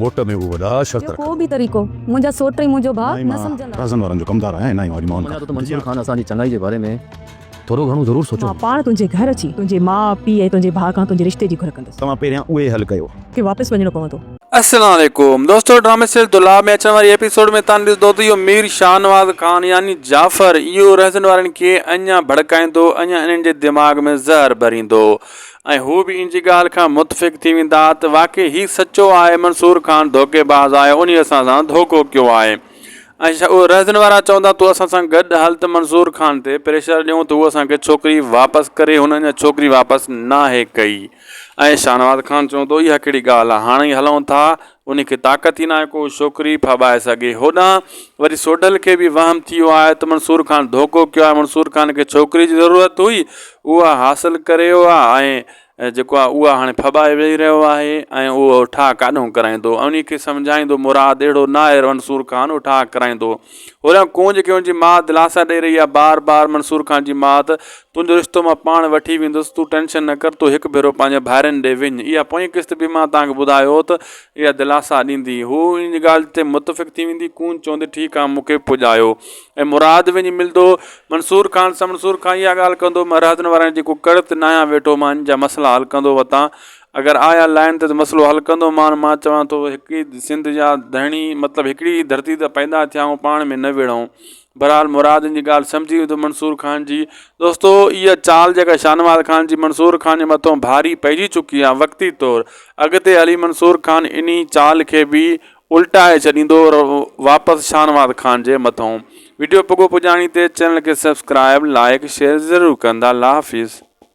موٽ ۾ اهي وڏا شرط رکن. ٻيو ڪو به طريقو منهنجا سوٽ ۽ منهنجو ڀاء نه سمجهندا. مان ئي رهزن وارن جو ڪمدار آهيان ۽ نه ئي واري ماڻهن کان. مڃان ٿو ته منظور خان اسان جي چڱائي جي باري ۾ ٿورو گهڻو ضرور سوچيو هوندو. مان پاڻ تنهنجي گهر اچي تنهنجي ماء، پيء ۽ تنهنجي ڀاء کان تنهنجي رشتي جي گهر ڪندس. توهان پهريان اهو حل ڪيو. کي واپس وڃڻو پوندو. السلام عليڪم دوستو ڊرامي سيريل دولاب ۾ اچڻ واري ايپيسوڊ ۾ تان ڏسدو ته اهو مير شاهنواز خان يعني جعفر اهو رهزن وارن کي اڃان ڀڙڪائيندو اڃان انهن جي دماغ ۾ زهر ڀريندو ۽ هو به ان جي ڳالهه کان متفق ٿي ويندا ته واقعي هي سچو آهي منصور خان ڌوڪي باز آهي انهي اسان سان ڌوڪو ڪيو آهي ۽ ڇا اهي رهزن وارا چوندا تو اسان سان گڏ هل ته منصور خان تي پريشر ڏيون ته هو اسان کي ڇوڪري واپس ڪري هن اڃا ڇوڪري واپس ناهي ڪئي ۽ شاهنواز خان چوندو اها ڪهڙي ڳالهه آهي هاڻي هلون ٿا انهي کي طاقت ئي ناهي ڪو شوڪري ڦاٻائي سگهي. هوڏانهن وري سوڍل کي به وهم ٿيو آهي ته منصور خان ڌوڪو ڪيو آهي. منصور خان کي ڇوڪري جي ضرورت هئي، اها حاصل ڪريو آ ۽ جيڪو آ اها هاڻي ڦاٻائي ويهي رهيو آهي ۽ اهو ٺاهه ڪاڏهون ڪرائيندو؟ انهي کي سمجهائيندو مراد اهڙو ناهي، منصور خان اهو ٺاهه ڪرائيندو. هوريان ڪونج کي ان جي ماء دلاسا ڏئي رهي آهي بار بار منصور خان جي ماء ته تنهنجو رشتو مان پاڻ وٺي ويندس تون ٽينشن نه ڪر تون هڪ ڀيرو پنهنجي ڀائرن ڏي وڃ اها پوئين قسط به مان توهان کي ٻڌايو هو ته اها دلاسا ڏيندي هو ان جي ڳالهه تي متفق ٿي ويندي ڪونج چوندي ٺيڪ آهي مون کي پڄايو ۽ مراد وڃي ملندو منصور خان سان منصور خان اها ڳالهه ڪندو مان رهاطن وارن جي ڪو ڪڙت ناهيان ويٺو مان ان جا مسئلا حل ڪندو وتان اگر آيا لائين ته مسئلو حل ڪندو مان مان چوان ٿو هڪ ئي سنڌ جا ڌڻي مطلب هڪڙي ئي ڌرتي ته پيدا ٿيا آهون پاڻ ۾ نه وڙهون برحال مراد جي ڳالهه سمجهي وڌو منصور خان جي دوستو هي چال جيڪا شاهنواز خان جي منصور خان جي مٿو ڀاري پئجي چڪي آهي وقتي طور اڳتي هلي منصور خان انهي چال کي به الٽائي ڇڏيندو واپس شاهنواز خان جي مٿو ويڊيو پڳو پڄاڻي تي چينل کي سبسڪرائب لائڪ شيئر ضرور ڪندا الله حافظ